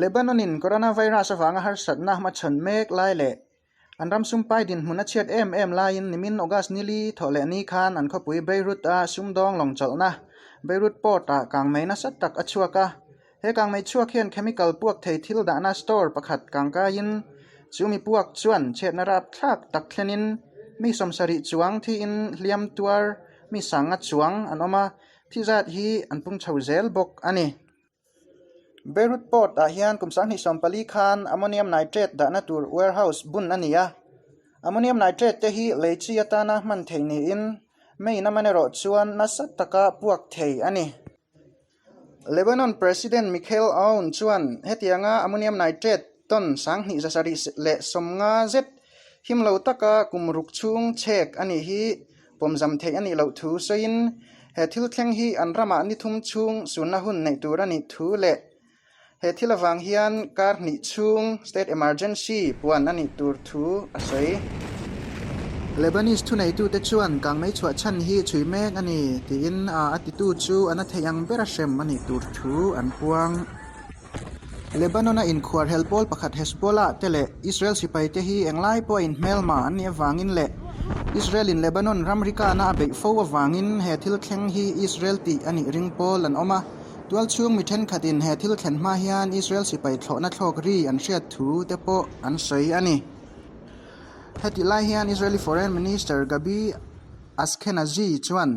Lebanonin coronavirus avanga harsatna hmachhawn mek lai leh an ram sumpai dinhmun a chhiat em em laiin nimin August nili thawh leh ni khan an khawpui Beirut-a sumdawng lawng chawlhna Beirut Port-a kangmei nasa tak a chhuak a. He kangmei chhuak hian chemical puak thei thil dahna store pakhat kangkaiin chumi puak chuan chhetna rap thlak tak thlenin mi sawmsa rih chuang thiin hliam tuar mi sanga chuang an awm a, thizat hi an pung chho zel bawk a ni. Beirut Port ah hian kum sanghnih sawm pali khan ammonium nitrate dahna tur warehouse bun a ni a. Ammonium nitrate te hi lei chi atana hman theih niin May-in a man erawh chuan nasa taka puak thei a ni. Lebanon President Michael Aoun chuan hetianga ammonium nitrate ton sanghnih zasarih leh sawmnga zet him lo taka kum ruk chhung chhek a nih hi pawmzam theih a nih loh thu sawiin he thil thleng hi an ramah ni thum chhung sunna hun neih tur a nih thu leh he thil avang hian kar hnih chhung, state emergency, puan a nih tur thu a sawi. Lebanese thuneitute chuan kang mei chhuah chhan hi chhui mek a ni tiin a titu chu a na theih ang bera hrem a nih tur thu an puang. Lebanon-a inkhuarhelh pawl pakhat Hezbollah te leh Israel sipai te hi eng lai pawh a in hmelma an nih avangin leh Israel-in Lebanon ramrikana a beih fo avangin he thil thleng hi Israel tih a nih ring pawl an awm a. Tual chhung mi thenkhatin he thil thlen hma hian Israel sipai thlawhna thlawk ri an hriat thu te pawh an sawi a ni. Heti lai hian Israeli Foreign Minister Gabi Askenazi chuan,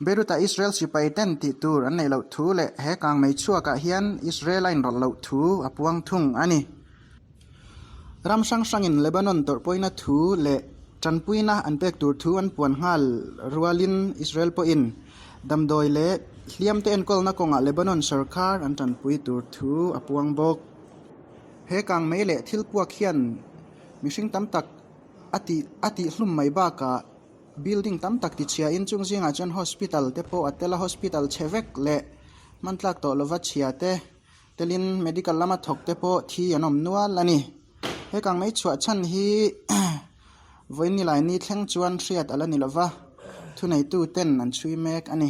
Beirut-a Israel sipai ten tih tur an neih loh thu leh he kang mei chhuakah hian Israel-a inrawlh loh thu a puang thung a ni. Ram hrang hrangin Lebanon tawrhpawina thu leh tanpuina an pek tur thu an puan nghal rualin Israel pawhin damdawi leh hliamte enkawlna kawngah Lebanon sorkar an tanpui tur thu a puang bawk. He kang mei leh thil puak hian mihring tam tak a tih a tih hlum mai bakah, Building tam tak tichhia in chung zingah chuan hospital te pawh a tel a, hospital chhe vek leh hmantlak tawh lova chhia te telin medical lama thawk te pawh thi an awm nual a ni. Hekang mai chhuah chhan hi Vawinnilai-ni thleng chuan hriat a la ni lova, thuneituten an chhui mek a ni.